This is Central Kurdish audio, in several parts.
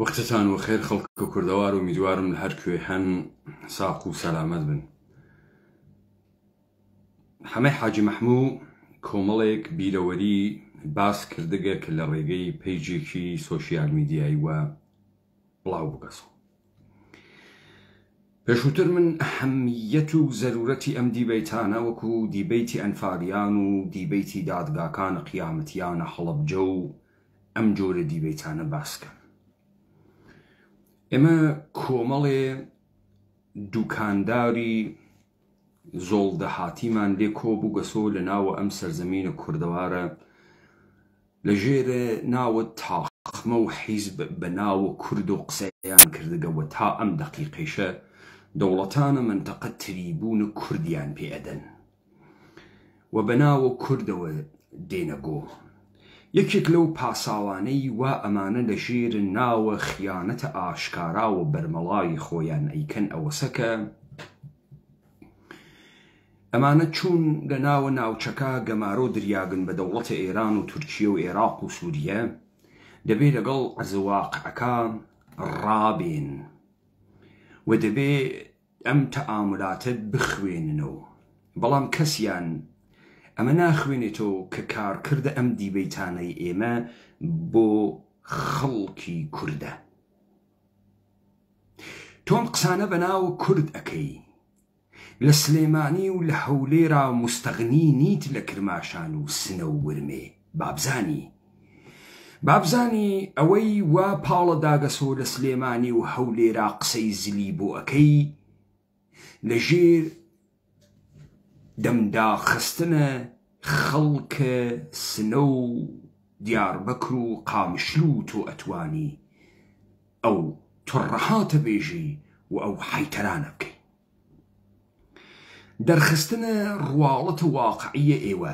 وەختتان وەخێر خەڵکە کوردەوار ئومیدوارم لە هەر کوێ هەن ساق و سەلامەت بن حەمەی حاجی مەحموو کۆمەڵێک بیرەوەری باس کردگە کە لە ڕێگەی پەیجێکی سۆشیال میدیایی وە بڵاو بگەسەوە پێشووتر من ئەهەمیەت و زەرورەتی ئەم دیبەیتانە وەکو دیبەیتی ئەنفالیان و دیبەیتی دادگاکان قیامەتیانە هەڵەبجە و ئەم جۆرە دیبەیتانە باس کەم. ئێمە کۆمەڵێ دوکانداری زۆڵ دەهاتیمان لێ کۆ بوو گەسۆ لە ناوە ئەم سەرزەمینە کوردەوارە لە ژێرە ناوە تاقمە و حیزب بە ناوە کورد و قسەیان کردگە و تا ئەم دەقیقەیشە دەوڵەتانە مەنتەقە تریبوونە کوردیان پێ ئەدەن. و بە ناوە کوردەوە دێنە گۆ. یەکێک لەو پاساوانەی وا ئەمانە لە ژێر ناوە خیانەتە ئاشکاراوە بەرمەڵای خۆیان ئەیکەن ئەوەسە کە ئەمانە چوون لە ناوە ناوچەکە گەمارۆ دریاگن بە دەوڵەتە ئێران و تورکیە و ئێراق و سووریە دەبێ لەگەڵ عەرزە واقعەکە ڕابێن و دەبێ ئەم تەئامولاتە بخوێننەوە بەڵام کەسیان ئەمە ناخوێنێتەوە کە کارکردە ئەم دیبەیتانەی ئێمە بۆ خەڵکی کوردە. تۆ ئەم قسانە بە ناو کورد ئەکەی لە سلێمانی و لە هەولێرا موستەغنی نیت لە کرماشان و سنە و ورمێ بابزانی بابزانی ئەوەی وا پاڵە داگەسۆ لە سلێمانی و هەولێرا قسەی زلی بۆ ئەکەی لە ژێر دەمدا خستنە خەڵکە سنە و دیاربەکر و قامشلو و تۆ ئەتوانی ئەو تڕەهاتە بێژی و ئەو حیتەرانە بکەی دەرخستنە ڕواڵەتە واقعیە ئێوە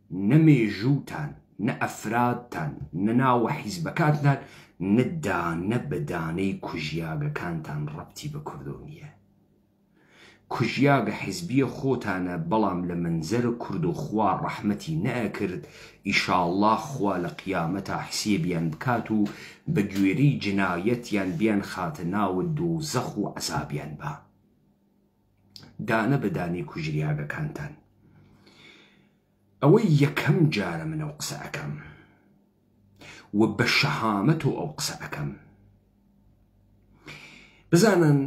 نە مێژووتان، نە ئەفرادتان، نە ناوە حیزبەکانتان، نە دانە بە دانەی کوژیاگەکانتان ڕەبتی بە کوردۆ نییە. کوژیاگە حیزبییە خۆتانە بەڵام لە مەنزەرە کوردۆ خوا ڕەحمەتی نەئەکرد، ئیشاڵڵا خوا لە قیامەتا حسێبیان بکات و بە گوێرەی جنایەتیان بیانخاتە ناوە دۆزەخ و عەزابیان با. دانە بە دانەی کوژریاگەکانتان ئەوەی یەکەم جارە من ئەو قسە ئەکەم و بە شەهامەت و ئەو قسە ئەەکەم بزانن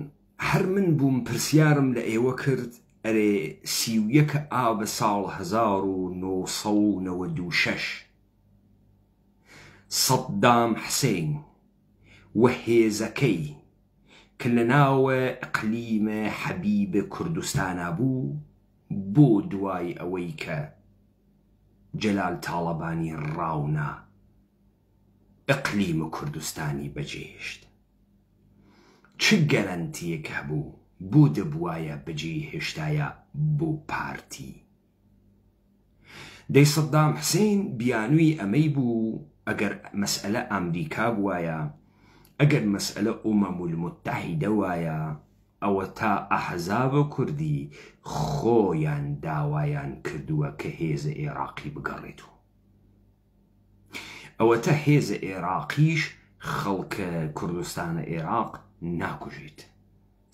هەر من بووم پرسیارم لە ئێوە کرد ئەرێ سیویەکە ئاوە ساڵ 1996 سەددام حسین و هێزەکەی کە لە ناو ئیقلیم حەبیب کوردستانا بوو بۆ دوای ئەوەی کە جەلال تاڵەبانی ڕاونا ئیقلیم کوردستانی بەجێهێشت چ گەرەنتیەک هەبوو بۆ دەبوایە بەجێی هێشتایە بۆ پارتی دەی سەدام حسین بیانوی ئەمەی بوو ئەگەر مەسئەلە ئامریکا بوایە ئەگەر مەسئەلە ئومەم المتحیدە وایە ئەوە تا ئەحزابە کوردی خۆیان داوایان کردوە کە هێزە ئێراقی بگەڕێتوە ئەوەتە هێزە ئێراقیش خەڵکە کوردستانە ئێراق ناکوژێت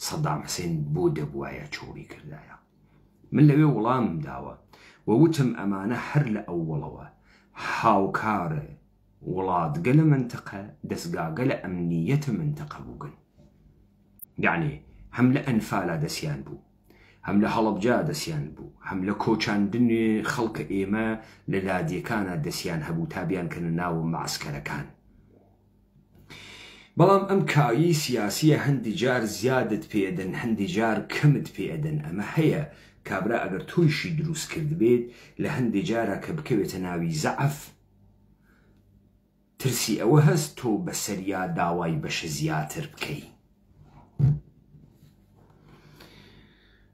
سەدام حسین بۆ دەبوایە چۆڵی کردایە. من لەوێ وڵامم داوە و وتم ئەمانە هەر لە ئەوەڵەوە هاوکار وڵاتگەلە مەنتقە دەسگاگەلە ئەمنییەتە مەنتقە بوگن. یەعنی هەم لە ئەنفالا دەسیان بوو، هەم لە هەڵەبجا دەسیان بوو، هەم لە کۆچاندن خەڵکە ئێمە لە لادێکانا دەسیان هەبوو تا بیانکەنە ناوە مەعسکەرەکان. بەڵام ئەم کایەی سیاسیە هەندی جار زیادت پێ ئەدەن هەندی جار کەمت پێ ئەدەن ئەمە هەیە کابرا ئەگەر تۆیشی دروست کردبێت لە هەندی جارا کە بکەوێتە ناوی زەعەف ترسی ئەوە هەست تۆ بەسەریا داوای بەشە زیاتر بکەی.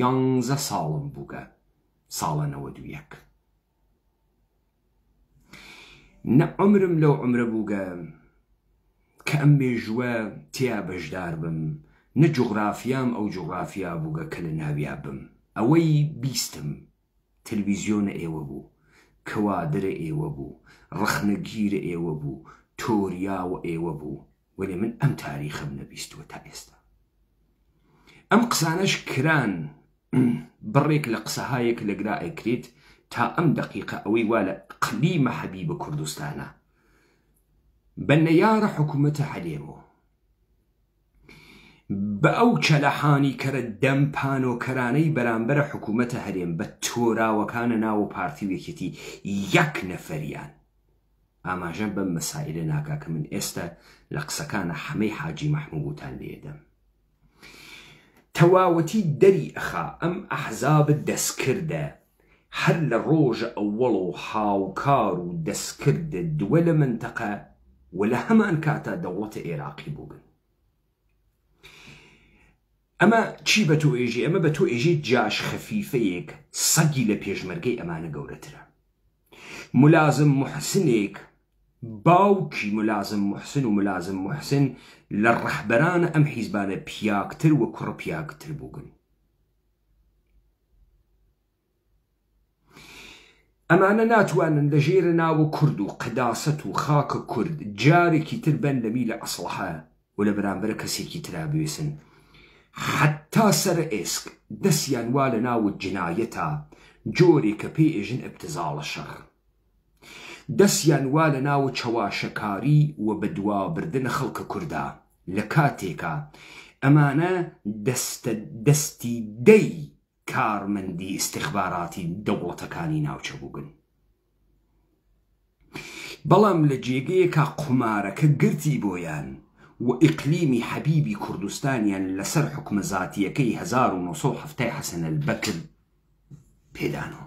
یانزە ساڵم بووگە ساڵە نەوەد و یەک نە عمرم لەو عمرە بووگە کە ئەم مێژووە تیا بەشدار بم نە جوغرافیام ئەو جوغرافیا بووگە کە لە ناویا بم ئەوەی بیستم تلویزیۆنە ئێوە بوو کوادرە ئێوە بوو ڕەخنەگیرە ئێوە بوو تۆریاوە ئێوە بوو وەلێ من ئەم تاریخەم نەبیستوە تا ئێستا ئەم قسانەش کران بڕێک لە قسەهایەک لە گرا ئەکرێت تا ئەم دقیقە ئەوەی وا لە قلی مەحەبی بە کوردستانە بە نەیارە حکوومەتە هەلێمەوە بە ئەو چەلەحانی کەرە دەم پانۆکەرانەی بەرامبەرە حکوومەتە هەرێم بە تۆراوەکانە ناوە پارتی وێکێتی یەک نەفەریان ئاماژەم بەم مەسائیلە ناکا کە من ئێستە لە قسەکانە حەمەی حاجی مەحمووتان لێ دەم تەواوەتی دەری ئەخا ئەم ئەحزاب دەسکردە هەر لە ڕۆژە ئەوەڵ و هاوکار و دەسکرد دووە لە مەنتەقە و لە هەمان کاتا دەوڵەتە ئێراقی بووبن ئەمە چی بە تۆ ئێژی ئەمە بە تۆ ئێژی جاش خەفیفەیەک سەگی لە پێشمەرگەی ئەمانە گەورەترە ملازم موحسنێک، باوکی ملازم موحسن و ملازم موحسن لە ڕەهبەران ئەم حیزبانە پیاکتر و کوڕ پیاکتر بوگن. ئەمانە ناتوانن لە ژێرە ناوە کورد و قەداسەت و خاکە کورد جارێکی تر بەن لە میلە ئەسڵەحە و لە بەرامبەر کەسێکی ترا بوێسن حەتا سەر ئێسک دەسیان وا لە ناوت جنایەتە جۆرێک کە پێی ئێژن ابتزاڵە شەڕ دەسیان وا لە ناوت چەواشەکاری و بە دوا بردن خەڵکە کوردە لە کاتێکا ئەمانە دەستە دەستی دەی کارمەندی استخباراتی دەوڵەتەکانی ناوچە بوگن. بەڵام لە جێگەیەکا قومارەکە گرتی بۆیان و ئیقلیمی حەبیبی کوردستانیان لە سەر حوکمە زاتیەکەی هەزار و نۆ سەد و حەفتا ی حەسەن ئەلبەکر پێدانەوە.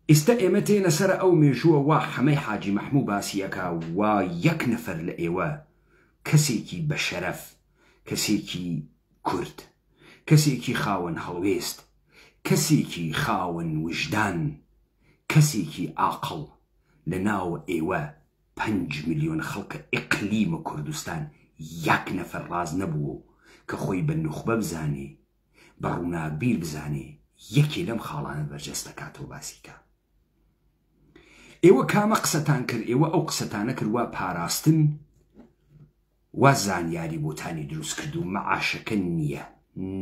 ئیستا ئێمە تێنە سەر ئەو مێژووە وا حەمەی حاجی مەحموو باسی ئەکا وا یەک نەفەر لە ئێوە کەسێکی بە شەرەف، کەسێکی کورد، کەسێکی خاوەن هەڵوێست، کەسێکی خاوەن وژدان، کەسێکی ئاقڵ لە ناو ئێوە پەنج ملیۆن خەڵقە ئیقلیمە کوردستان یەک نەفەر ڕاست نەبووە و کە خۆی بە نوخبە بزانێ بە ڕووناکبیر بزانێ یەکێ لەم خاڵانە بەرجەست دەکاتەوە باسی کا ئێوە کامە قسەتان کرد ئێوە ئەو قسەتانە کرد وا پاراستن وا زانیاری بۆتانی دروست کردووم مەعاشەکە نییە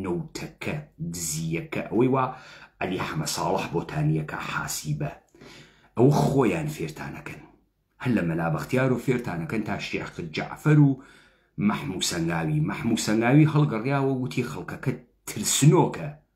نەوتەکە دزییەکە ئەوەی وا عەلی حەمە ساڵح بۆتانییەکە حاسیبە ئەوە خۆیان فێرتانەکەن هەر لە مەلا بەختیارۆ فێرتانەکەن تا شێخ جەعفەر و مەحموو سەنگاوی مەحموو سەنگاوی هەڵگەڕیاوە وتی خەڵکەکە ترسنۆکە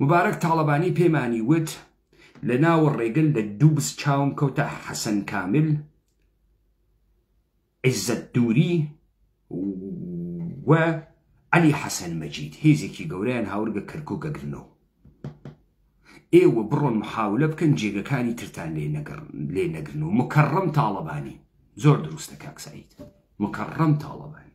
موبارەک تاڵەبانی پێمانی وت، لە ناوە ڕێگە لە دووبز چاوم کەوتە حەسەن کامل، عیزەت دووری و عەلی حەسەن مەجید، هێزێکی گەورەیان هاورگە کەرکوک ئەگرنەوە. ئێوە بڕۆن محاولە بکەن جێگەکانی ترتان لێ نەگرن و مکەڕەم تاڵەبانی، زۆر دروستە کاک سەعید، مکەڕەم تاڵەبانی.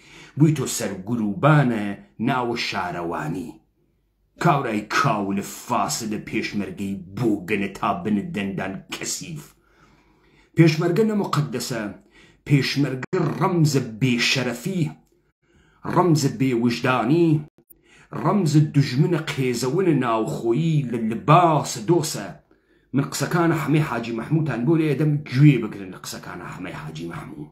بویتۆ سەر گروبانە ناوە شارەوانی کابرای کاولە فاسدە پێشمەرگەی بۆگەنە تا بنت دەندان کەسیف پێشمەرگە نە موقەدەسە پێشمەرگە ڕەمزە بێ شەرەفی ڕەمزە بێ وژدانی ڕەمزە دوژمنە قێزەونە ناوخۆیی لە لباسە دۆسە من قسەکانە حەمەی حاجی مەحموتان بۆ لێدەم گوێ بگرن لە قسەکانە حەمەی حاجی مەحموو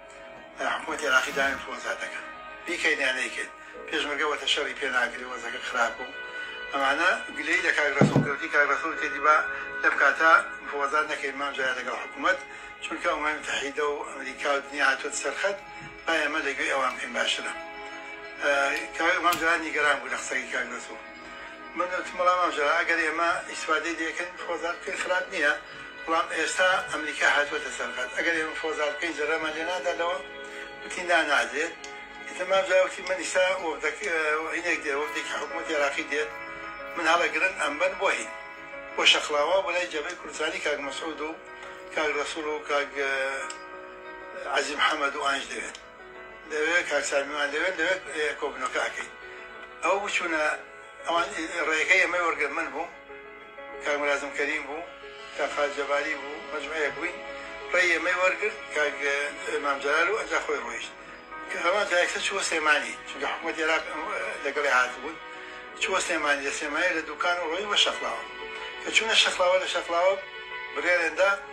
حکومەتی عراقی داوای ئینفلۆنزا دەکەن بیکەین یا نەیکەین پێشمەرگە وەتە شەڕی پێ ناکرێ وەزەکە خراپە و ئەمانە گلەیی لە کاک رەسوڵ کردی کاک رەسوڵ کردی با لەم کاتە ئینفلۆنزا نەکەین مام جەلال لەگەڵ حکومەت چونکە ئەمەی متحیدە و ئەمریکا و دنیا هاتووەتە سەر خەت با ئێمە لە گوێی ئەوان بکەین باشترە کاک مام جەلال نیگەران بوو لە قسەکەی کاک رەسوڵ من وتم بەڵام ئەوجا ئەگەر ئێمە ئیستفادەی لێکەین فۆزات بکەین خراپ نییە بەڵام ئێستا ئەمریکا هاتووەتە سەر خەت ئەگەر ئێمە فۆزات بکەین زەرەرمان لێ نادا لەوە وتی نا نادرێت ئیتر مام جەلال وتی من ئیستا وەفدەک هینێک دێ وەفدێکی حکوومەتی عێراقی دێت من هەڵەگرن ئەمبەن بۆ هین بۆ شەقڵاوە بۆ لای جەبهەی کوردستانی کاک مەسعود و کاک ڕەسوڵ و کاک عەزیز محەمەد و ئانج دەوێت دەوێ کاک سامی مان لەوێ لەوێ کۆبنەوەکە ئەکەین ئەو بچونە ئەوان ڕێگەی ئەمەی وەرگرن من بووم کاک مرازم کەریم بوو کاک خالد جەباری بوو مەجموعەیەک بووین ڕێی ئەمەی وەرگرت کاک مام جەلال و ئەنجا خۆی ڕۆیشت کە هەمان جایەکسە چووە سلێمانی چونکە حکومەت عێراق لەگەڵی هاتبوون چووە سلێمانی لە سلێمانی لە دوکان و ڕۆی بە شەقڵاوە کە چوونە شەقڵاوە لە شەقڵاوە بڕیاریان دا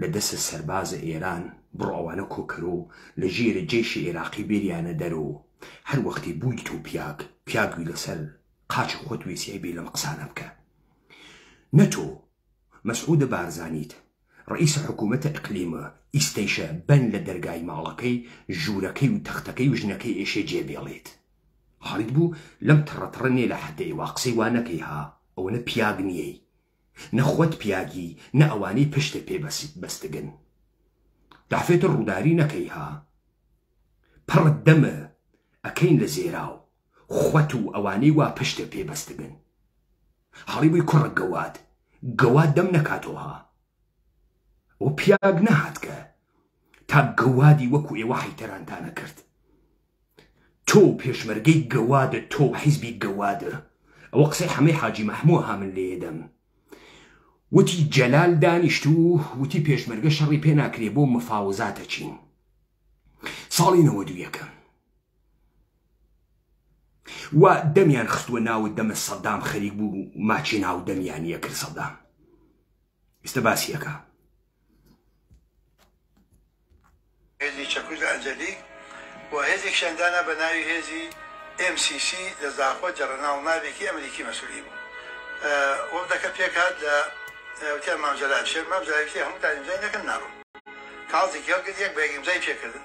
لە دەسە سەربازە ئێران بڕۆ ئەوانە کۆکەرۆ لە ژێرە جێشی ئێراقی بێریانە دەرۆ هەر وەختی بووی تۆ پیاک پیاگوی لە سەر قاچی خۆت وێسیای بێ لەم قسانە بکە نە تۆ مەسعودە بارزانیت ڕئیسە حکوومەتە ئقلیمە ئیستەیشە بەن لە دەرگای ماڵەکەی ژوورەکەی و تەختەکەی و ژنەکەی ئێشێ جێ بێڵێت حاڵیت بوو لەم تڕە تڕە نێ لە حەدەی وا قسەی وا نەکەی ها ئەوەنە پیاگ نیەی نە خۆت پیاگی نە ئەوانەی پشتت پێ بەستگن دافێتر ڕووداری نەکەی ها پڕت دەم ئەکەین لە زێراو خۆت و ئەوانەی وا پشتت پێ بەستگن هەڵی بووی کوڕە گەواد گەواد دەم نەکاتەوە ها ئەو پیاگ نەهاتکە تا گەوادی وەکو ئێوە حیتەرانتانە کرد تۆ و پێشمەرگەی گەوادت تۆ و حیزبی گەواد ئەوە قسەی حەمەی حاجی مەحموە ها من لێیدەم وتی جەلال دانیشت و وتی پێشمەرگە شەڕی پێ ناکرێ بۆ مفاوزاتە چین ساڵی نەوە دوویەکە و دەمیان خستووە ناوت دەمە سەدام خەریک بوو ماچی ناو دەمیان یەکرد سەدام ئێستا باسیەکە هێزی چەکوس لە ئەنجەلیک و هێزێکشیان دانا بە ناوی هێزی ئێم سی سی لە زاخۆ جەڕەناڵ ناڤێکی ئەمریکی مەسولی بوو وفدەکە پێک هات لە وتیان مام جەلال شێر مام جەلال وتی هەمووتان ئیمزای نەکەن ناڕۆن کاڵ زیکێڵ کرد یەک بە یەک ئیمزای پێ کردن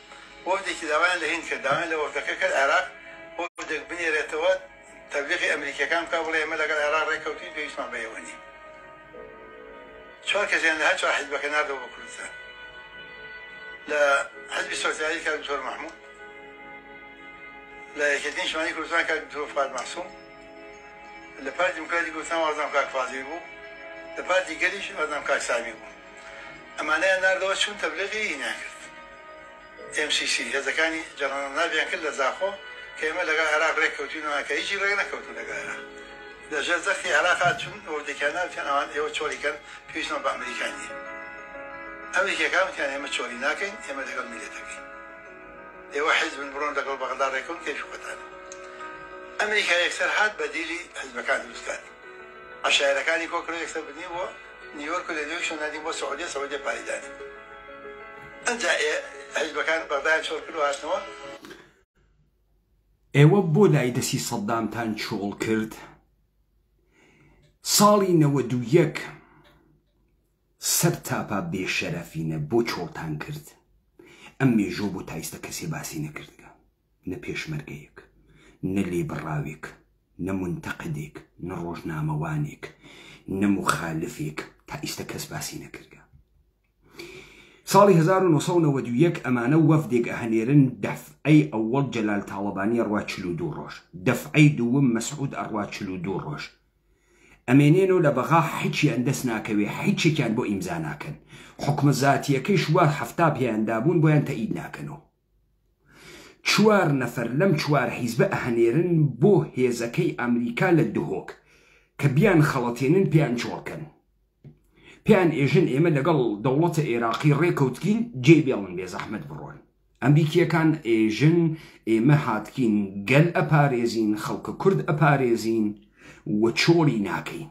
وەفدێکی داوایان لە هیند کرد داوایان لە وەفدەکە کرد عێراق وەفدێک بنێرێتەوە تەبلیغی ئەمریکیەکان بکا بڵێ ئێمە لەگەڵ عێراق ڕێککەوتوین پێویستمان بە ئێوە نیە چوار کەسیان لە هەر چوار حزبەکە ناردەوە بۆ کوردستان لە حزبی سۆسیالی کاک دکتۆر محمود لە یەکێتین شمالی کوردستان کاک دکتۆر فواد معصوم لە پارتی دیموکراتی کوردستان وازنام کاک فازیل بوو لە پارتی گەلیش وازنام کاک سامی بوو ئەمانەیان ناردەوە چوون تەبلیغی ئینیان کرد ئێم سی سی هێزەکانی جەڕەنەڵناڤیان کرد لە زاخۆ کە ئێمە لەگەڵ عێراق رێک کەوتوینەوە کە هیچی رێک نەکەوتن لەگەڵ عێراق لە ژێر زەختی عێراقا چوون وەفدێکیان نارد وتیان ئەوان ئێوە چۆڵی کەن پێویستمان بە ئەمریکا نیە ئەم یەکێکان وتیان ئێمە چۆڵی ناکەین ئێمە لەگەڵ میللەتەکەین ئێوە حیزبن بڕۆن لەگەڵ بەغدا رێکەون کەیفی خۆتانە ئەمریکا یەکسەر هات بەدیلی حیزبەکان دروست کات عەشایەرەکانی کۆ کرد و یەکسەر بنی بۆ نیویۆرک و لە نیویۆرکیش ناردین بۆ سعودیە، سعودیە پارەی دانێ. ئنجا ئێ حیزبەکان بەغدایان چۆڵ کرد و هاتنەوە. ئێوە بۆ لای دەستی سەددامتان چۆڵ کرد؟ ساڵی نەوەد و یەک سەرتاپا بێشەرەفینە بۆ چۆڵتان کرد؟ ئەم مێژووە بۆ تایستە کەسێ باسی نەکردگە. نە پێشمەرگەیەک، نە لێبڕاوێک، نە مونتەقدێک، نە ڕۆژنامەوانێک، نە موخالفێک تا ئیستە کەس باسی نەکردە. ساڵی هەزار و نۆ سەد و نەوەد و یەک ئەمانە وەفدێک ئەهنێرن دەفعەی ئەوەڵ جەلال تاڵەبانی ئەڕوا چل و دوو ڕۆژ، دەفعەی دووم مەسعود ئەڕوا چل و دوو ڕۆژ ئەمێنێنەوە لە بەغا حچیان دەس ناکەوێ حیچێکیان بۆ ئیمزا ناکەن حوکمە زاتیەکەیش وا حەفتا پێیان دابوون بۆیان تەئید ناکەنەوە. چوار نەفەر لەم چوار حیزبە ئەهەنێرن بۆ هێزەکەی ئەمریکا لە دهۆک کە بیان خەڵەتێنن پێیان چۆڵ کەن پێیان ئێژن ئێمە لەگەڵ دەوڵەتە ئێراقی ڕێکەوتگین جێ بێڵن بێزەحمەت بڕۆن ئەمریکیەکان ئێژن ئێمە هاتگین گەل ئەپارێزین خەڵکە کورد ئەپارێزین و چۆڵی ناکەین.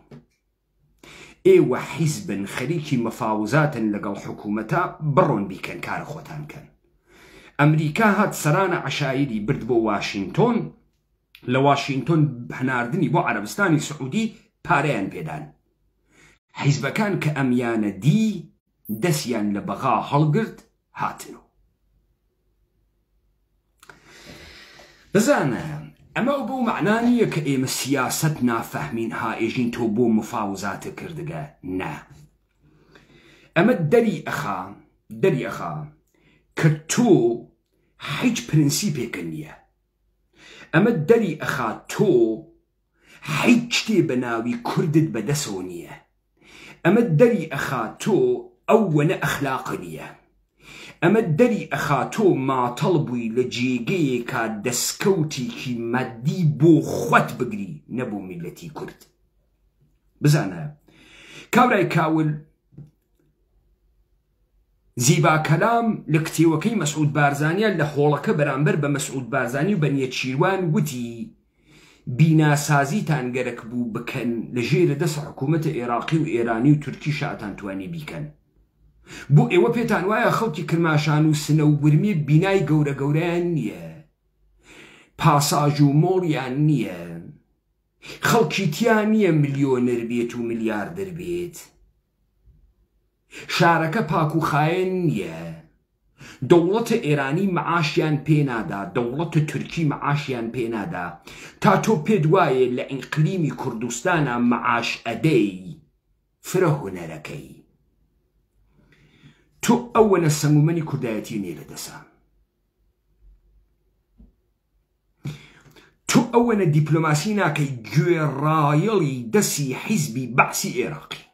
ئێوە حیزبن خەریکی مەفاوزاتن لەگەڵ حکومەتا بڕۆن بیکەن کارە خۆتان کەن ئەمریکا هات سەرانە عەشایری برد بۆ واشینتۆن لە واشینتۆن هەناردنی بۆ عەرەبستانی سعودی پارەیان پێدان حیزبەکان کە ئەمیانە دی دەسیان لە بەغا هەڵگرت هاتن و. بزانە، ئەمە ئەو بەو مەعنا نییە کە ئێمە سیاسەت نافەهمین هائێژین تۆ بۆ مفاوزاتە کردگە، نا. ئەمە دەری ئەخا، دەری ئەخا کە تۆ هیچ پرنسیپێکە نییە. ئەمە دەری ئەخا تۆ هیچ شتێ بە ناوی کوردت بە دەسەوە نیە ئەمە دەری ئەخا تۆ ئەو وەنە ئەخلاقە نیە ئەمە دەری ئەخا تۆ ماتەڵ بووی لە جێگەیەکا دەسکەوتیکی مادی بۆ خوت بگری نە بۆ میلەتی کورد بزانە کابرای کاول زیبا کەلام لە کتێوەکەی مەسعود بارزانیان لە هۆڵەکە بەرامبەر بە مەسعود بارزانی و بە نێچیروان وتی، بیناسازیتان گەرەک بوو بکەن لە ژێرە دەس حکوومەتە ئێراقی و ئێرانی و تورکی شاتان توانی بیکەن. بۆ ئێوە پێتان وایە خەڵکی کرماشان و سنە و ورمێ بینای گەورە گەورەیان نییە؟ پاساژ و مۆڵیان نییە؟ خەڵکی تیا نییە ملیۆنەر بێت و ملیاردەر بێت؟ شارەکە پاک و خاێن نیە دەوڵەتە ئێرانی معاشیان پێ نادا دەوڵەتە تورکی معاشیان پێ نادا تا تۆ پێت وایە لە ئیقلیمی کوردستانا معاش ئەدەی فرە هونەرەکەی تۆ ئەوەنە سەمومەنی کوردایەتی نیە لە دەسا تۆ ئەوەنە دیپلۆماسی ناکەی گوێڕایەڵی دەسی حیزبی بەعسی ئێراقی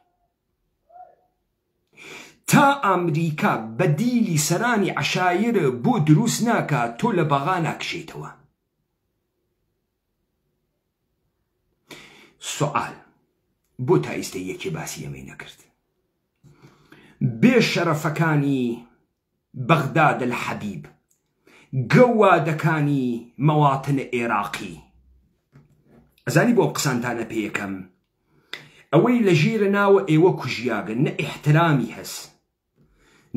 تا ئامریکا بە دیلی سەرانی عەشایر بۆ دروست ناکا تۆ لە بەغا ناکشێیتەوە. سوعال بۆ تا ئیستە یەکێ باسی ئەمەی نەکرد بێ شەرەفەکانی بغداد الحبیب، گەووادەکانی مەواطن ئێراقی. ئەزانی بۆ ئەم قسانتانە پێکەم؟ ئەوەی لە ژیرە ناوە ئێوە کوژیاگە نە ئیحترامی هەس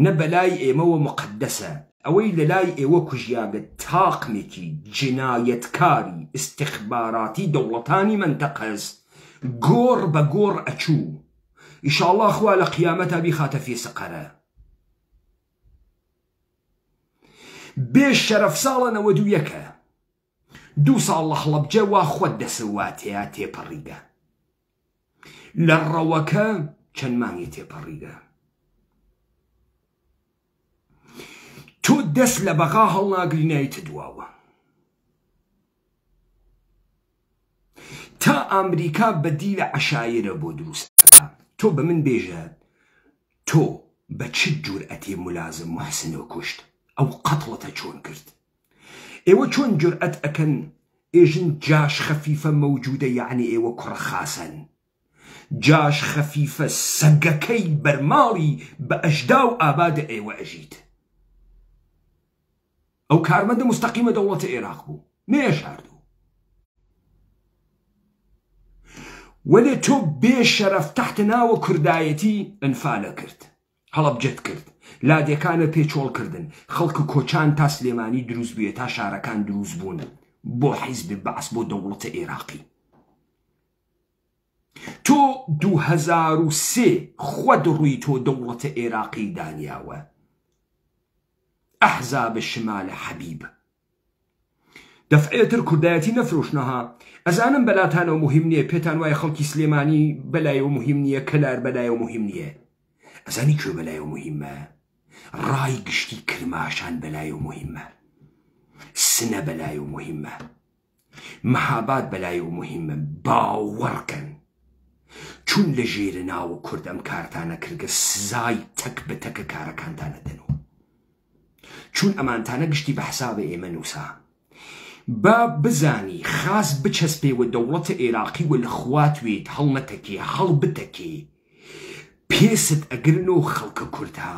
نە بەلای ئێمەوە موقەدەسە ئەوەی لە لای ئێوە کوژیاگە تاقمێکی جنایەتکاری ئیستخباراتی دەوڵەتانی مەنتەقەس گۆڕ بە گۆڕ ئەچوو ئیشاڵا خوا لە قیامەتا بیخاتە فیسقەرە. بێ شەرەف ساڵە نەوەد و یەکە دوو ساڵ لە خڵەبجە وا خۆت دەسەوا تێیا تێپەڕیگە لە ڕەوەکە چەند مانگی تێپەڕیگە تۆ دەست لە بەغا هەڵناگرینایتە دواوە تا ئامریکا بەدی لە عشاعرە بۆ دروست تۆ بە من بێژە تۆ بە چ جورئەتێ ملازم محسنۆ کوشت ئەو قەتڵەتە چۆن کرد ئێوە چۆن جورئەت ئەکەن ئێژن جاش خەفیفە مەوجودە یەعنی ئێوە کوڕە خاسەن جاش خەفیفە سەگەکەی بەرماڵی بە ئەژداو ئابادە ئێوە ئەژیت. ئەو کارمەندە مستەقیمە دەوڵەتە ئێراق بوو نەیەشاردوو وەلێ تۆ بێ شەرەف تەحت ناوە کوردایەتی ئەنفالە کرد هەڵەبجەت کرد لادێکانە پێ چۆڵ کردن خەڵکە کۆچان تا سلێمانی دروست بووە تا شارەکان دروست بوون بۆ حیزب بەعس بۆ دەوڵەتە ئێراقی تۆ دوو هەزار و سێ خوەت ڕوی تۆ دەوڵەتە ئێراقی دانیاوە ئەحزاب شمال حەبیب دەفعێتر کوردایەتی نەفرۆشنەها ئەزانم بەلاتانەوە مهم نییە پێتان وایە خەڵکی سلێمانی بەلایەوە مهم نییە کەلار بەلایەوە مهم نییە ئەزانی کوێ بەلایەوە مهمە ڕای گشتی کرماشان بەلایەوە مهمە سنە بەلایەوە مهمە مەهاباد بەلای و موهیمە باوەڕ کەن چون لە ژێرە ناوە کورد ئەم کارتانە کردگە سزای تەک بە تەکە کارەکانتان ئەدەنوە چون ئەمانتانە گشتی بە حسابە ئێمە نوسا با بزانی خاس بچەسپێ وە دەوڵەتە ئێراقی وە لە خوات وێت هەڵ نەتەکێ هەڵ بتەکێ پێست ئەگرن و خەڵکە کورتا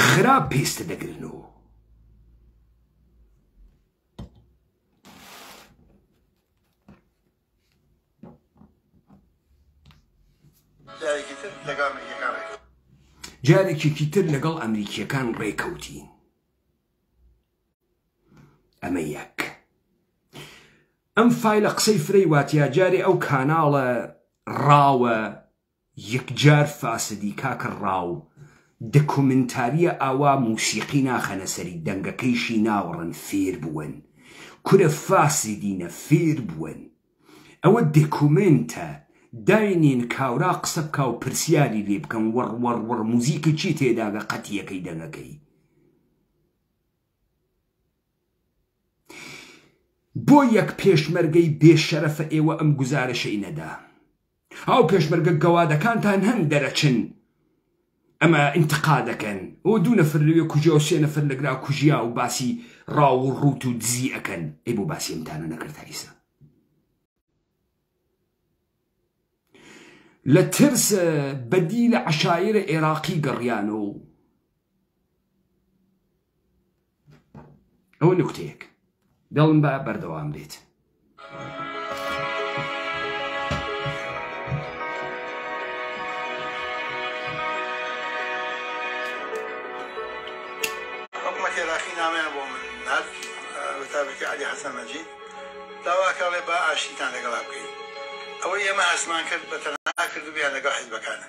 خراپ پێستە دەگرن و جارێکێکی تر لەگەڵ ئەمریکیەکان ڕێکەوتین ئەمە یەک ئەم فیلە قسەی فرەی واتیا جارێ ئەو کاناڵە ڕاوە یەکجار فاسدی کاکە ڕاو. دەکۆمێنتاریە ئاوا موسیقی ناخەنە سەری دەنگەکەیشی ناوەڕن فێربوون کورە فاسدینە فێربوون ئەوە دەکۆمێنتە داینێن کاورا قسە بکا و پرسیاری لێ بکەن وڕڕڕڕ موزیکی چی تێداگە قەتیەکەی دەنگەکەی بۆ یەک پێشمەرگەی بێ شەرەفە ئێوە ئەم گوزارەشەی نەدا. ئەو پێشمەرگە گەوادەکانتان هەن دەرەچن ئەمە ئینتقا دەکەن ئەوە دوو نەفر لەوێ کوژیا و سێ نەفر لەگرا کوژیا و باسی ڕاو و ڕووت و دزی ئەکەن ئەی بۆ باسی ئەمتانە نەکرد تا ئیسا لە ترس بەدی لە عەشایرە ئێراقی گەڕیانەوە و ئەوە نکتەیەک دڵم بە بەردەوام بێت. نامەیان بۆ من نرد بەتابەتی علی حەسەن مەجید داواکەڵێ با ئاشتیتان لەگەڵا بکەین ئەوەی ئێمە هەستمان کرد بە تەنها کردویان لەگەڵ حیزبەکانە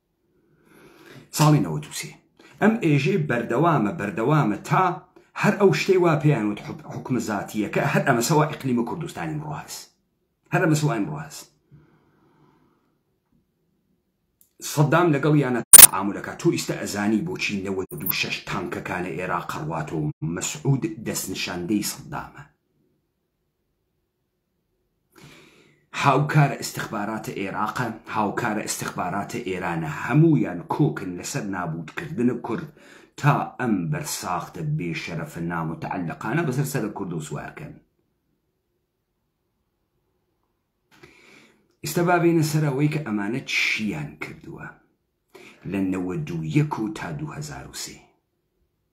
ساڵی نەوەد و سێ ئەم ئێژەی بەردەوامە بەردەوامە تا هەر ئەو شتەی وا پێیان وت حکومە زاتیەکە هەر ئەمەسەوە ئیقلیمە کوردستانی ئمڕۆ هەست هەر ئەمەسەوە ئمڕۆ هەست سەدام لەگەڵ یانە تعاملەکە تۆ ئیستا ئەزانی بۆچی نەوە دوو شەش تانکەکانە ئێرا قڕواتۆ مەسعود دەستنشاندەی سەدامە هاوکارە ئیستخباراتە ئێراقە هاوکارە ئیستخباراتە ئێرانە هەموویان کۆکن لەسەر نابووت کردنە کورد تا ئەم بەر ساختە بێ شەرەفە ناموتەعەلەقانە بەسەر سەرە کوردۆ سوارکەن ئیستا با بێنە سەر ئەوەی کە ئەمانە چیان کردووە لە نەوەدوو یەک و تا دوو هەزار و سێ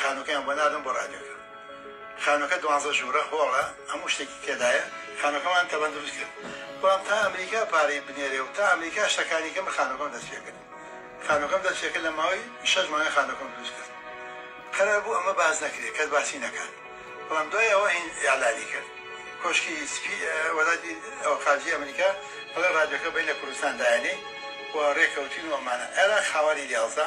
خانوەکەیان بۆ ناردم بۆ ڕادیۆکە خانوەکە دوانزە ژورە هۆڵە هەموو شتێکی تێدایە خانوەکەمان تەبەن دروست کرد بەڵام تا ئەمریکا پارەی بنێرێ و تا ئەمریکا شتەکانی کە من خانوەکەم دەست پێ کرد خانوەکەم دەست پێ کرد لە ماوەی شەش مانگ خانوەکەم دروست کرد قەرار بوو ئەمە باس نەکرێ کەس باسی نەکات بەڵام دوای ئەوە هین ئیعلانی کرد کۆشکی سپی وەزارەتی ئەو خارجی ئەمریکا بەڵێ ڕادیۆکە بین لە کوردستان دایەنێ و ڕێکەوتین و ئەمانە عێراق خاوەنی دیاڵزە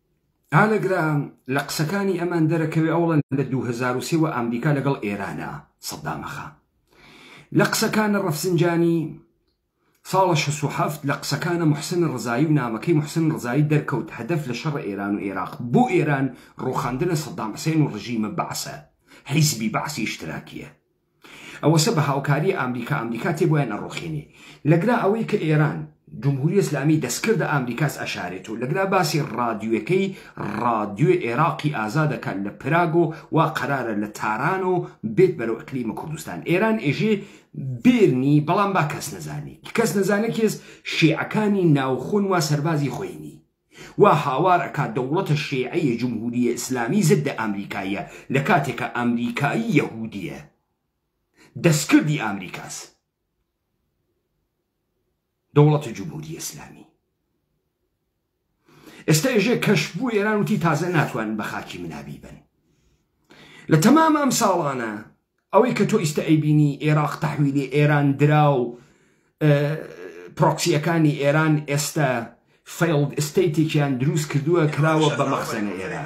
ئالەگرا لە قسەکانی ئەمان دەرەکەوێ ئەوڵە لە دوو هەزار و سێ وە ئامریکا لەگەڵ ئێرانە سەدامەخا لە قسەکانە ڕەفسنجانی ساڵە شەست و حەفت لە قسەکانە محسن ڕزایی و نامەکەی محسن ڕزایی دەرکەوت هەدەف لە شەڕ ئێران و ئێراق بۆ ئێران ڕوخاندنە سەدام حسێن و ڕژیمە بەعسە حیزبی بەعسی ئیشتراکیە ئەوەسە بە هاوکاری ئامریکا ئامریکا تێ بۆیان ئەڕۆخێنێ لەگرا ئەوەی کە ئێران جمهوری ئسلامی دەستکردە ئامریکاس ئەشارێت و لەگرا باسی ڕادیوەکەی ڕادیوێ ئێراقی ئازادەکە لە پراگۆ وا قەرارە لە تارانەوە بێت بەرەو ئەقلیمە کوردستان ئێران ئێژێ بێرنی بەڵام با کەس نەزانێت کەس نەزانێت کێز شیعەکانی ناوخۆن وا سەربازی خۆینی وا هاوار ئەکات دەوڵەتە شێعەیە جمهوریە ئیسلامی زدە ئامریکاییە لە کاتێکا ئامریکایی یەهودیە دەستکردی ئامریکاس دەوڵەتە جمهوریە ئیسلامی ئێستا ێژێ کەش بوو ئێران وتی تازە ناتوانن بە خاکی منابی بن لە تەمام ئەم ساڵانە ئەوەی کە تۆ ئیستە ئەیبینی ئێراق تەحویلی ئێران درا و پرۆکسیەکانی ئێران ئێستە فەیڵد ئیستەیتێکیان دروست کردوە کراوە بە مەخزەنە ئێران.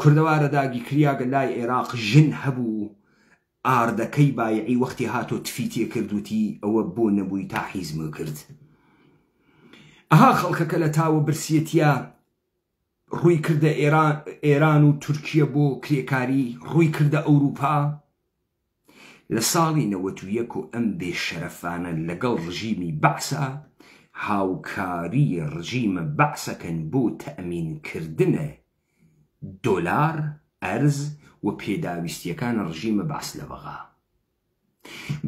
کوردەوارە داگی کریاگە لای عێراق ژن هەبوو ئاردەکەی بایعی وەختی هاتۆ تفی تێ کرد وتی ئەوە بۆ نەبووی تا حیز م کرد ئەها خەڵکەکە لە تاوە برسیەتیە ڕووی کردە ئێران و تورکیە بۆ کرێکاری ڕووی کردە ئەوروپا لە ساڵی نەوەت و یەک و ئەم بێ شەرەفانە لەگەڵ ڕژیمی بەعسا هاوکاری ڕژیمە بەعسەکەن بۆ تەئمین کردنە دۆلار ئەرز و پێداویستیەکان ڕژیمە بەعس لە بەغا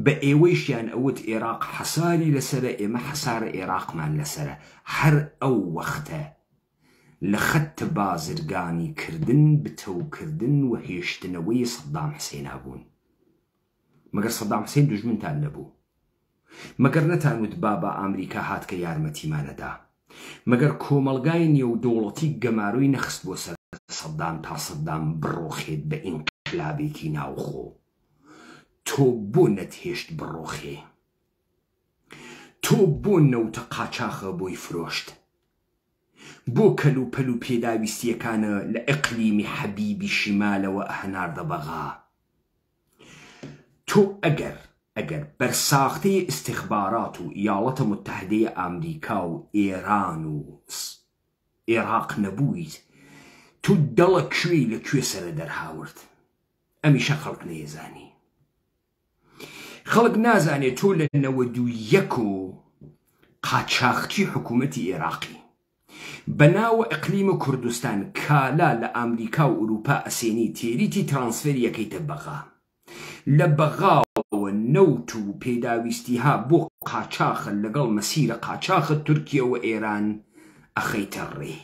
بە ئێوەیشیان ئەوت ئێراق حەساری لەسەرە ئێمە حەسارە ئێراقمان لەسەرە هەر ئەو وەختە لە خەت بازرگانی کردن بتەو کردن و هێشتنەوەی سەدام حسێنا بوون مەگەر سەدام حسێن دوژمنتان نەبوو مەگەر نەتان وت بابا ئامریکا هات کە یارمەتیمانەدا مەگەر کۆمەڵگای نێو دەوڵەتی گەمارۆی نەخست بۆ سەر سەدام تا سەدام بڕۆخێت بە ئینقلابێکی ناوخۆ تۆ بۆ نەتهێشت بڕۆخێ تۆ بۆ نەوتە قاچاخە بۆی فرۆشت بۆ کەل و پەل و پێداویستیەکانە لە ئیقلیمی حەبیبی شیمالەوە ئەهناردە بەغا تۆ ئەگەر ئەگەر بەر ساختەی ئیستیخبارات و یاڵەتە موتەحدەی ئامریکا و ئێران و ئێڕاق نەبوویت تۆ دەڵە کوێی لە کوێ سەرە دەرهاورد ئەمیشە خەڵک نەیەزانی. خەڵک نازانێ تۆ لە نەوەد و یەک و قاچاخچی حکوومەتی ئێراقی بە ناوە ئەقلیمە کوردستان کالا لە ئامریکا و ئورووپا ئەسێنی تێریی ترانسفێری ئەکەیتە بەغا لە بەغاوە نەوت و پێداویستییه بۆ قاچاخ لەگەڵ مەسیرە قاچاخت تورکییە و ئێران ئەخەیتە ڕێ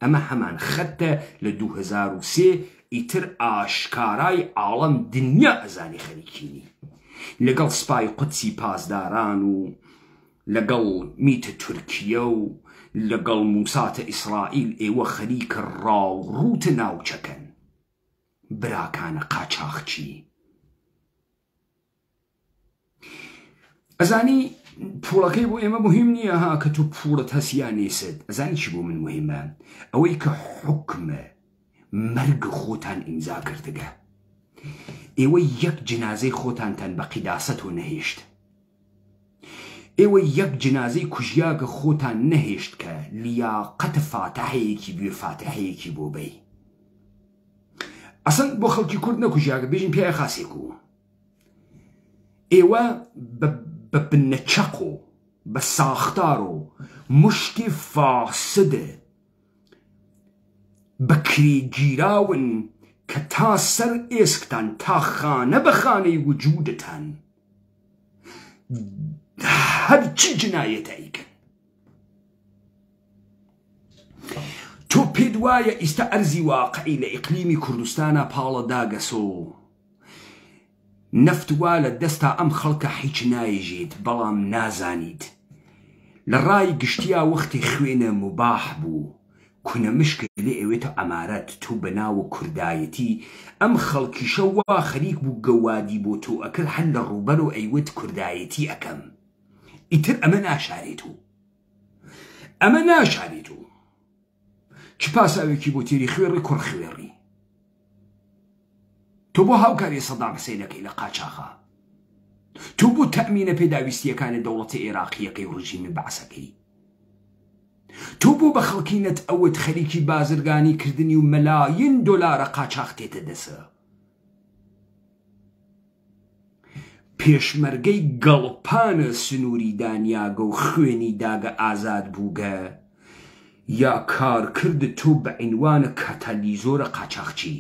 ئەمە هەمان خەتە لە دوو هەزار و سێ ئیتر ئاشکارای عاڵەم دنیا ئەزانی خەریکینی لەگەڵ سپای قودسی پاسداران و لەگەڵ میتە تورکیە و لەگەڵ موساتە ئیسرائیل ئێوە خەریکە ڕاو ڕووتە ناوچەکەن براکانە قاچاخچی ئەزانی پوڵەکەی بۆ ئێمە مهم نییە ها کە تو پوڵت هەسیان نیست ئەزانی چی بۆ من مهمە ئەوەی کە حکمە مەرگ خۆتان ئیمزا کردگە ئێوە یەک جنازەی خۆتانتان بە قیداسەت و نەهێشت ئێوە یەک جنازەی کوژیاگە خۆتان نەهێشت کە لیاقەت فاتحەیەکی گوێ فاتحەیەکی بۆ بەی ئەسڵ بۆ خەڵکی کورد نەکوژیاگە بێژین پیاە خاسێک و ئێوە بە بنە چەق و بە ساختار و مشتی فاسد بەکری گیراون کە تا سەر ئێسکتان تا خانە بە خانەی وجودتان هەرچی جنایەتە ئیکەن تۆ پێت وایە ئیستا ئەرزی واقعی لە ئیقلیمی کوردستانا پاڵە داگەسۆ نەفت وا لە دەستا ئەم خەڵکە حیچ نایژیت بەڵام نازانیت لە ڕای گشتیا وەختی خوێنە مباح بوو کونە مشک لێ ئەوێتە ئەمارەت تو بە ناو کوردایەتی ئەم خەڵکیشە وا خەریک بوو گەوادی بۆ تۆ ئەکرد هەر لە ڕووبەرو ئەیوت کوردایەتی ئەکەم ئیتر ئەمە ناشارێت و ئەمە ناشارێت و چ پاساوێکی بۆ تێری خوێڕی کوڕ خوێڕی تۆ بۆ هاوکاری سەدام حسینەکەی لە قاچاخە تۆ بۆ تەمینە پێداویستیەکانی دەوڵەتی عێراقیەکەی و ڕژیمی بەعسەکەی تۆ بۆ بە خەڵکینت ئەوەت خەریکی بازرگانی کردنی و مەلاین دۆلارە قاچاختێتە دەسە پێشمەرگەی گەڵپانە سنووری دانیاگە و خوێنی داگە ئازاد بووگە یا کارکرد تۆ بە عینوانە کاتالیزۆرە قاچاخچی.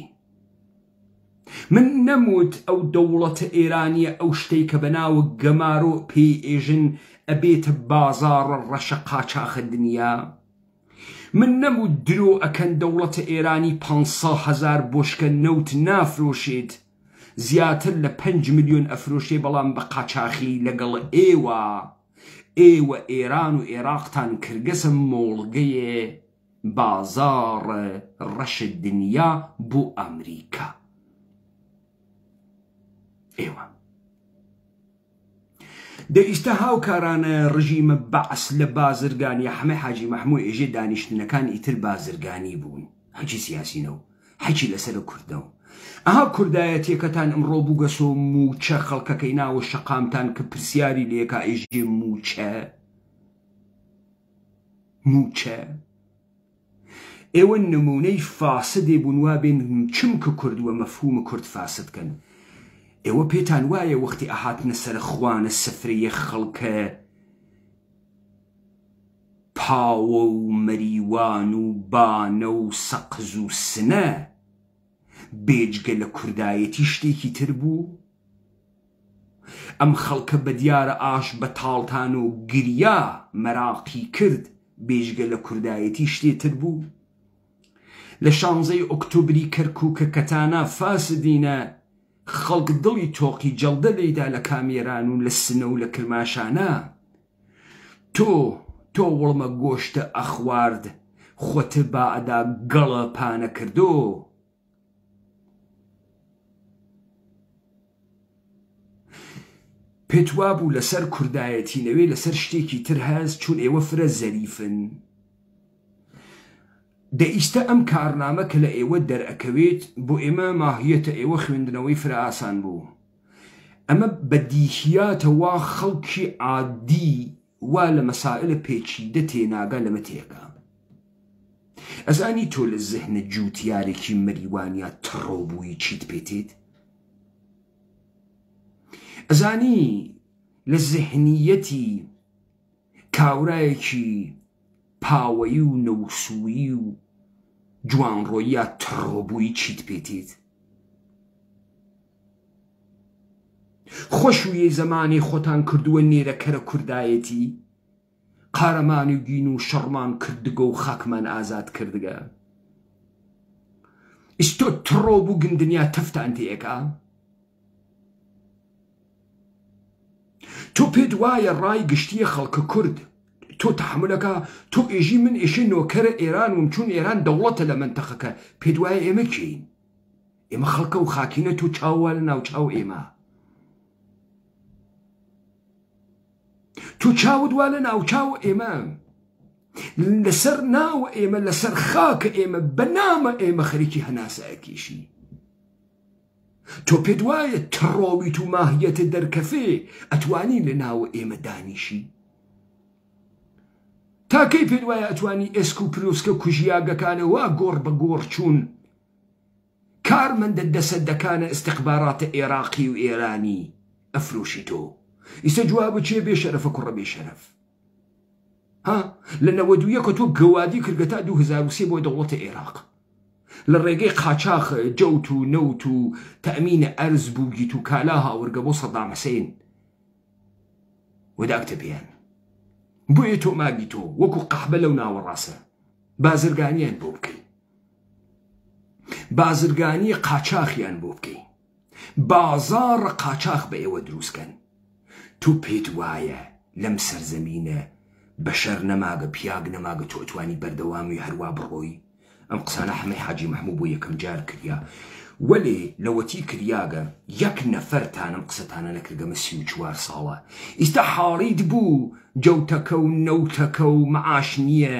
من نەموت ئەو دەوڵەتە ئێرانیە ئەو شتەی کە بە ناوە گەمارۆ پێی ئێژن ئەبێتە بازاڕە ڕەشە قاچاخە دنیا؟ من نەم وت درۆ ئەکەن دەوڵەتە ئێرانی پانج سە هەزار بۆشکە نەوت نافرۆشێت زیاتر لە پەنج ملیۆن ئەفرۆشێ بەڵام بە قاچاخی لەگەڵ ئێوە ئێوە ئێران و ئێراقتان کردگەسە مۆڵگەێ بازاڕ ڕەش دنیا بۆ ئەمریکا ئێوە. دە ئیستە هاوکارانە رژیمە بەعس لە بازرگانیە حەمە حاجی مەحمو ئێژێ دانیشتنەکان ئیتر بازرگانی بوون حەکی سیاسی نەو حەکی لە سەرە کورد نەو ئەها کوردایەتیەکەتان ئمڕۆ بوگەسۆ مووچە خەڵکەکەی ناوە شەقامتان ک پرسیاری لێکا ئێژێ مووچە مووچە ئێوە نمونەی فاسدێ بون وابێن چمکە کورد وە مەفهوم کورد فاسد کەن ئێوە پێتان وایە وەختی ئەهاتنە سەرە خوانە سفرەیە خەڵکە پاوە و مەریوان و بانە و سەقز و سنە بێجگە لە کوردایەتی شتێکی تر بوو؟ ئەم خەڵکە بەدیارە ئاش بەتاڵتان و گریا مەراقی کرد بێجگە لە کوردایەتی شتێ تر بوو؟ لە شانزەی ئۆکتۆبری کەرکوکە کەتانا فاسدینە خەڵک دڵی تۆقی جەڵدە لێیدا لە کامێران و لە سنە و لە کرماشانا تۆ تۆ وڵمە گۆشتە ئەخوارد خوەتە بائەدا گەڵە پانە کردۆ پێت وابوو لەسەر کوردایەتی نەوێ لەسەر شتێکی تر هەست چون ئێوە فرە زەریفن دە ئیستە ئەم کارنامە کە لە ئێوە دەرەکەوێت بۆ ئێمە ماهیەتە ئێوە خوێندنەوەی فرە ئاسان بوو ئەمە بەدیهیاتە وا خەڵکی عادی وا لە مەسائلە پێچیدە تێناگا لەمە تێگا ئەزانی تۆ لە زهنت جووتیارێکی مریوانیا تڕۆ بووی چیت پێ تێت؟ ئەزانی لە زهنییەتی کاورایەکی پاوەیی و نەوسوویی و جوانڕۆییا تڕۆ بووی چیت پێ تێت؟ خۆشوویەی زەمانەی خۆتان کردووە نێرە کەرە کوردایەتی؟ قارەمانی دین و شەڕمان کردگە و خاکمان ئازاد کردگە. ئیستۆ تڕۆ بوگن دنیا تەفتان تێکا؟ تۆ پێت وایە ڕای گشتیە خەڵکە کورد تۆ تحملەکە تۆ ئێژی من ئێشێ نۆکەرە ئێران وم چون ئێران دەوڵەتە لە منتەقەکە پێت وایە ئێمە کێین؟ ئێمە خەڵکە و خاکینە تۆ چاوە لە ناوچاو ئێمە. تۆ چاوت وا لە ناوچاوە ئێمە لەسەر ناوە ئێمە لەسەر خاکە ئێمە بەنامە ئێمە خەریکی هەناسایەتیشی تۆ پێت وایە تڕۆویت و ماهیەتە دەرکەفێ ئەتوانی لە ناوە ئێمە دانیشی تاکەی پێت وایە ئەتوانی ئێسک و پلوسکە کوژیاگەکانەوە گۆڕ بە گۆڕ چوون کارمەندە دەسەدەکانە استخباراتە ئێراقی و ئێرانی ئەفرۆشی تۆ ئیسە جوابە چیە بێ شەرەفە کوڕە بێ شەرەف ها لە نەوەد و یەکە تۆ گەوادی کردگە تا دوو هەزار و سێ بۆ دەوڵەتە ئێراق لە ڕێگەی قاچاخ جەوت و نەوت و تەمینە ئەرز بووگیت و کالا هاورگە بۆ سەدام حسین وداکتە پێیان بۆیە تۆ ماگی تۆ وەکو قەحبە لەو ناوەڕاستە بازرگانیان بۆ بکەی بازرگانی قاچاخیان بۆ بکەین بازاڕ قاچاخ بە ئێوە دروستکەن تۆ پێت وایە لەم سەرزەمینە بەشەر نەماگە پیاگ نەماگە تۆتوانی بەردەوامی هەروە بڕۆی ئەم قسانە حەمەی حاجی مححموو بۆ یەکەم جار کریا وەێ لەوەتی کریاگە یەک نەفەرتانم قسەتانە نەکردەمە سی و چوار ساڵە ئیستا حاڵیت بوو جەوتەکە و نەوتەکە و معاش نییە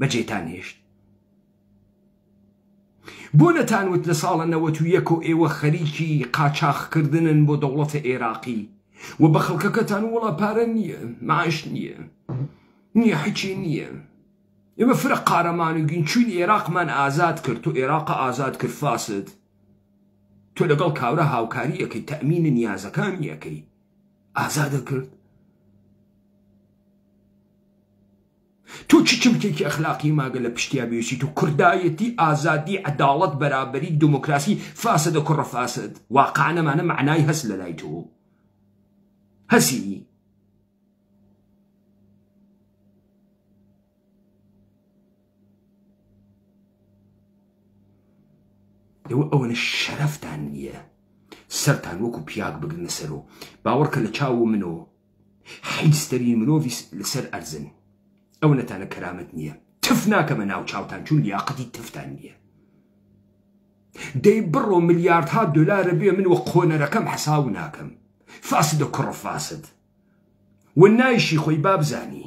بەجێتان هێشت بۆ نەتانوت لە ساڵە نەوەت و یەکۆ ئێوە خەریکی قاچاخکردنن بۆ دەوڵەتە ئێراقی و بە خەڵکەکەتان وڵا پارە نییە معش نییە نییە حچی نییە ئێمە فرە قارەمان و گین چوین ئێراقمان ئازاد کرد و ئێراق ئازاد کرد فاسد تۆ لەگەڵ کاورە هاوکاری ئەەکەی تەمینە نیازەکانی ئەەکەی ئازادە کرد تۆ چ چمکێکی ئەخلاقی ماگە لە پشتیا بویسیت و کوردایەتی، ئازادی، عەداڵەت، بەرابەری، دموکراسی، فاسدە کوڕە فاسد، واقعن ئەمانە مەعنای هەست لە لای تۆ هەسی. ئێوە ئەوەنە شەرەفتان نییە سەرتان وەکو پیاک بگرنە سەر و باوەڕکە لە چاو و من و حیز ترین مرۆڤی لەسەر ئەرزن ئەو نەتانە کەرامەت نیە تف ناکەمە ناو چاوتان چون لیاقەتی تفتان نیە دەی بڕۆ ملیاردها دلارە بێ من وە قۆنەرەکەم حەساو ناکەم فاسدە کوڕە فاسد و نایشی خۆی بابزانی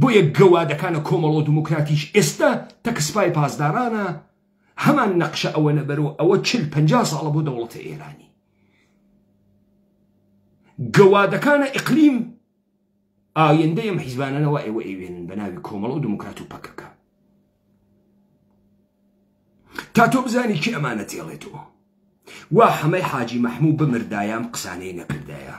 بۆیە گەوادەکانە کۆمەڵەو دموکراتیش ئێستا تەک سپای پاسدارانە هەمان نەقشە ئەوەنە بەرۆ ئەوە چل پەنجا ساڵە بۆ دەوڵەتە ئێرانی گەوادەکانە ئقلیم ئایندەی ئەم حیزبانەوە ئێوە ئەوێنن بە ناوی کۆمەڵەو دموکرات و پەکەکە تا تۆ بزانی کی ئەمانە تێڵێتەوە وا حەمەی حاجی مەحموو بمردایام قسانەی نەکردایە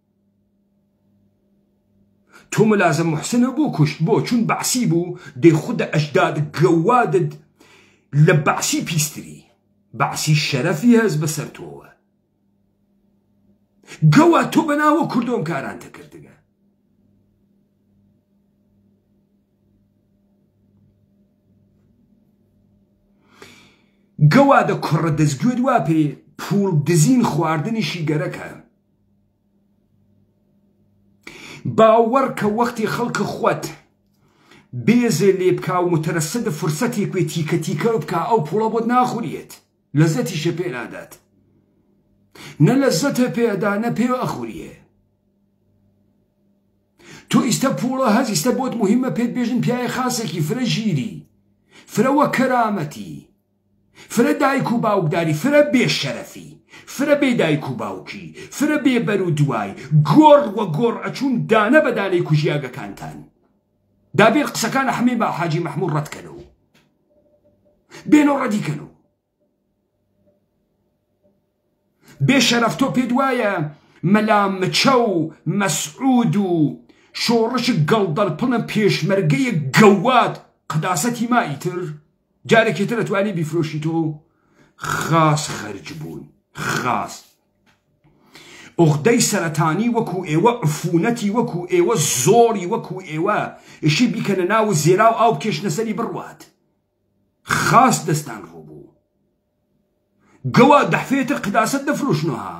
تۆ ملازم محسنە بۆ کوشت بۆ چون بەعسی بوو دەی خود ئەژداد گەوادد لە بەعسی پیستری بەعسی شەرەفی هەس بەسەر تۆوە گەوا تۆ بەناوە کوردۆم کارانتە کردگە گەوادە کوڕە دەستگوێت وا پێ پوڵ دزین خواردنیشی گەرەکە باوەڕ کە وەختی خەڵک خوت بێزێ لێ بکا و مترصد فرسەتێک بێ تیکە تیکە بکا ئەو پوڵە بۆت ناخوریێت لەزەتیشە پێ نادات نە لەزەتە پێ ئەدا نە پێ ئەخوریێ تۆ ئیستە پوڵە هەز ئیستە بۆت مهمە پێت بێژن پیاە خاسێکی فرە ژیری فرەوە کەرامەتی فرە دایک و باوکداری فرە بێ شەرەفی فرە بێ دایک و باوکی فرە بێ بەرو دوای گۆڕ وە گۆڕ ئەچون دانە بە دانەی کوژی ئاگەکانتان دابێن قسەکان حمێ با حاجی محمود ڕەت کەنەو بێنەو ڕەدی کەنەو. بێ شەرەف تۆ پێت وایە مەلا مچە و مەسعود و شۆڕشک گەڵدەلپڵن پێشمەرگەیەک گەواد قەداسەتی ما ئیتر جارێکی تر ئەتوانی بیفرۆشی تۆ خاس خەرج بوون خاس ئۆغدەی سەرەتانی وەکو ئێوە عفونەتی وەکو ئێوە زۆری وەکو ئێوە ئشی بیکەنە ناو زێرا و ئاو کێشنەسەری بڕوات خاس دەستان ڕوو گەواد دەحفێتر قداسەت دەفرۆشنۆ ها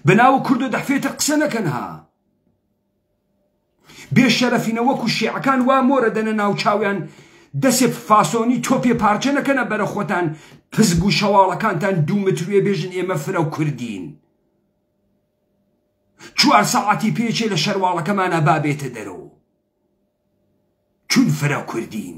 بەناوە کوردۆ دەحفێتر قسە نەکەن ها بێ شەرەفینە وەکو شێعەکان وا مۆرە دەنە ناو چاویان دەسێ فاسۆنی تۆپێ پارچە نەکەنە بەرە خۆتان پزب و شەواڵەکانتان دوو متروێ بێژن ئێمە فرە و کوردین چوار سەعاتی پێچێ لە شەرواڵەکەمانە بابێتە دەرەوە چون فرە کوردین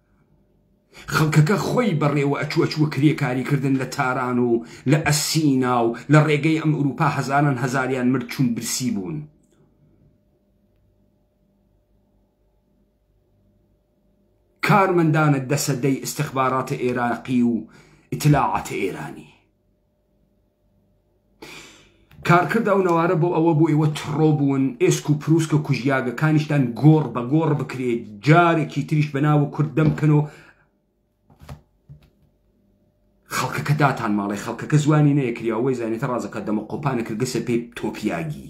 خەڵکەکە خۆی بەڕێوە ئەچوو ئەچووە کرێکاری کردن لە تاران و لە ئەسینا و لە ڕێگەی ئەم ئورووپا هەزاران هەزاریان مرد چوون برسی بوون. کارمەندانە دەسەدەی ئیستخباراتە ئێراقی و ئیتلاعاتە ئێرانی. کارکرد ئەو نەوارە بۆ ئەوە بوو ئێوە تڕۆ بوون ئێسک و پرووسکە کوژیاگەکانیشتان گۆڕ بە گۆڕ بکرێت جارێکی تریش بەناوە کورد دەمکەن و خەڵکەکە داتان ماڵێ خەڵکەکە زوانی نەیەکری ئەوەی زانێتە ڕازەکە دەمە قۆپانە کردگەسە پێی تۆپیاگی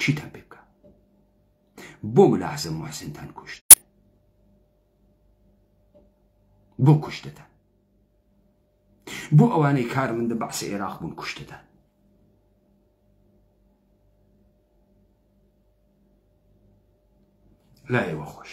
چیتان پێ بکا بۆ ملا حەسەن موحسنتان کوشت بۆ کوشتتان بۆ ئەوانەی کارمندە بەعسی عێراق بوون کوشتتان لا ئێوە خۆش